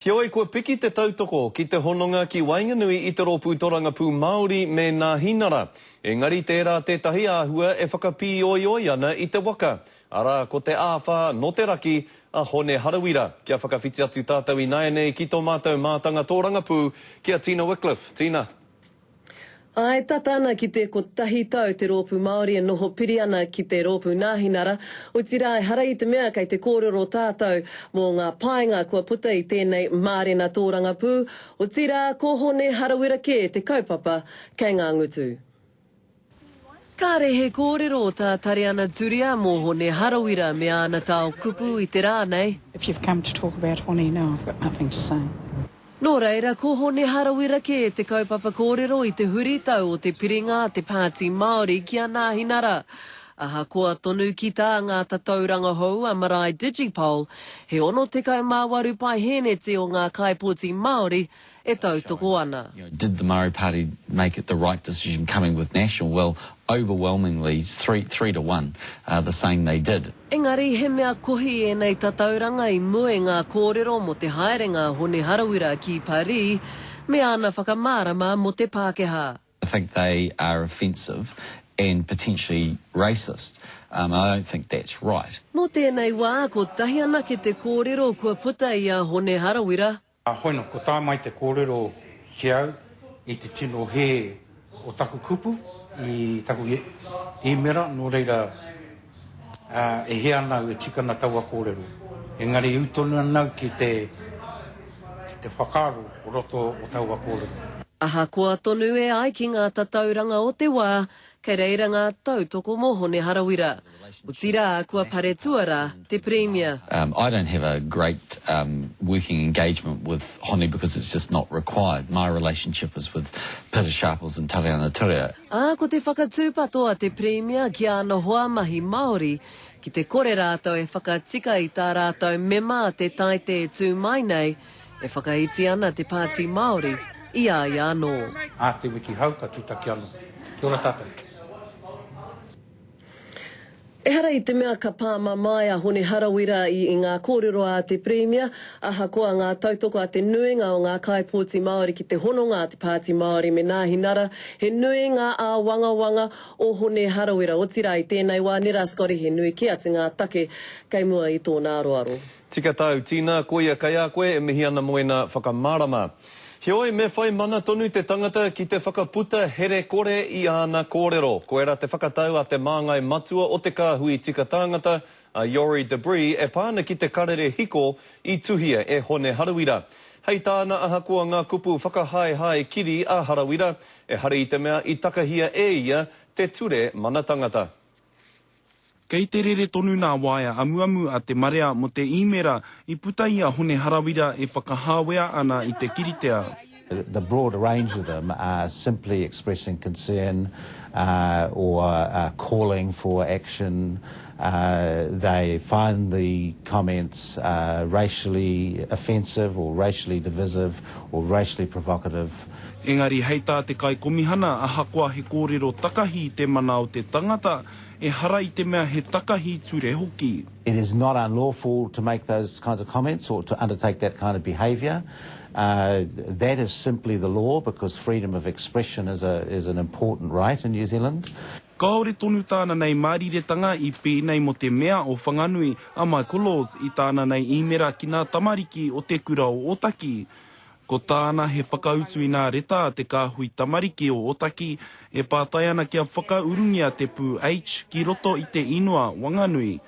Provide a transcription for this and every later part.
Heoi, kua piki te tautoko ki te hononga ki waenganui i te Rōpū Torangapū Māori me Nā Hinara. Engari tērā tētahi āhua e whakapīoioi ana i te waka, arā, ko te āwhā nō te raki a Hone Harawira kia whakawhiti atu tātou ināianei ki tō mātou mātanga tōrangapū, ki a Tina Wickliffe. Tina. Āe, tata ana ki te kotahi tau te rōpū Māori e noho piri ana ki te rōpū Nāhinara, otirā ehara i te mea kei te kōrero tātou mō ngā painga kua puta i tēnei mārena tōrangapū, otirā ko Hone Harawira kē te kaupapa kei ngā ngutu. Kāre he kōrero o tā Tareana Turia mō Hone Harawira me āna tao kupu i te rā nei. If you've come to talk about Hone now I've got nothing to say. Nō reira, ko Hone Harawira kē te kaupapa kōrero i te huritau o te piringa a te Pāti Māori ki a Nāhinara. Ahakoa tonu ki tā ngā tatauranga hou a Marae Digipol, he 68 paeheneti o ngā kaipoti Māori, e tautoko ana. Did the Māori Party make it the right decision coming with National? Well, overwhelmingly, three, three to one, uh, the saying they did. Engari he mea kohi ēnei tatauranga i mua i ngā kōrero mō te haerenga a Hone Harawira ki Parī me ana whakamārama mō te Pākehā. I think they are offensive and potentially racist. Um, and I don't think that's right. Mō tēnei wā, kotahi anake te kōrero kua puta i a Hone Harawira A hoena kua tae mai te kōrero ki au i te tino hē o taku kupu i taku īmera, nō reira, e hē ana au e tika ana taua kōrero. Engari i ū tonu ana au ki te whakaaro o roto o taua kōrero. Ahakoa tonu e ai ki ngā tatauranga o te wā, Kei reira ngā tautoko mō Hone Harawira. Otirā, kua paretua rā te Pirimia. I don't have a great working engagement with Hone because it's just not required. My relationship is with Pita Sharples and Tariana Turia. Ā, ko te whakatūpato a te Pirimia ki āna hoa mahi Māori, ki te kore rātou e whakatika i tā rātou mema te Taite e tū mai nei, e whakaiti ana te Pāti Māori i a ia anō. A te wiki hau ka tutaki ano. Kia ora tatou. Ehara i te mea ka pā mamae a Hone Harawira i i ngā kōrero a te Pirimia, ahakoa ngā tautoko a te nuinga o ngā kaipōti Māori ki te hononga a te Pāti Māori me Nāhi Nara, he nui ngā āwangawanga o Hone Harawira, otirā i tēnei wā nera Scotty he nui kē atu ngā take kei mua i tōna aroaro. Tika tau, Tina, koia kei a koe e mihi ana mo ena whakamārama. Heoi, me whai mana tonu te tangata ki te whakaputa here kore i āna kōrero. Koirā te whakatau a te māngai matua o te kāhui tika tāngata, a Youri Debree, e pā ana ki te karere hiko i tuhia e Hone Harawira. Hei tāna, ahakoa ngā kupu whakahaehae kiri a Harawira, ehara i te mea i takahia e ia te ture mana tangata. Kei te rere tonu nā waea amuamu a te marea mō te īmēra i puta i a Hone Harawira e whakahāwea ana i te kiritea. The broad range of them are simply expressing concern or calling for action, they find the comments racially offensive or racially divisive or racially provocative. Engari hei tā te Kaikomihana ahakoa he kōrero takahi te mana o te tangata, ehara i te mea he takahi ture hoki. It is not unlawful to make those kinds of comments or to undertake that kind of behaviour. That is simply the law because freedom of expression is a is an important right in New Zealand. Kāore tonu tāna nei māriretanga i pēnei mō te Mea o Whanganui, a Michael Laws, i tāna nei īmera ki ngā tamariki o te kura o Ōtaki. Ko tāna he whakautu inā reta a te kāhui tamariki o Otaki e pātai ana kia whakaurungia te pū H ki roto i te inua Wanganui.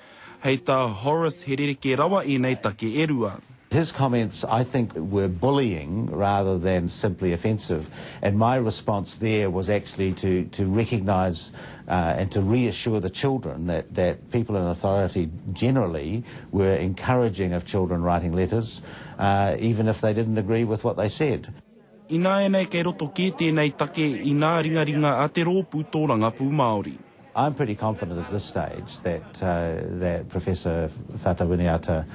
Hei tā Horace he rerekē rawa ēnei take e rua. His comments I think were bullying rather than simply offensive and my response there was actually to to recognise and to reassure the children that that people in authority generally were encouraging of children writing letters even if they didn't agree with what they said. Ināianei kei roto kē tēnei take i ngā ringaringa a te rōpū tōrangapū Māori. I'm pretty confident at this stage that that Professor Fata Winiata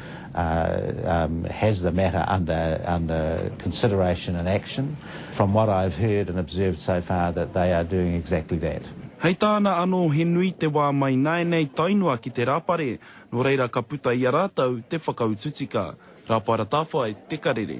has the matter under consideration and action. From what I've heard and observed so far that they are doing exactly that. Hei tāna anō he nui te wā mai nāianei tae noa ki te rāpare Nō reira ka puta i a rātou te whakautu tika. Rāpara Tāwhai, Te Karere.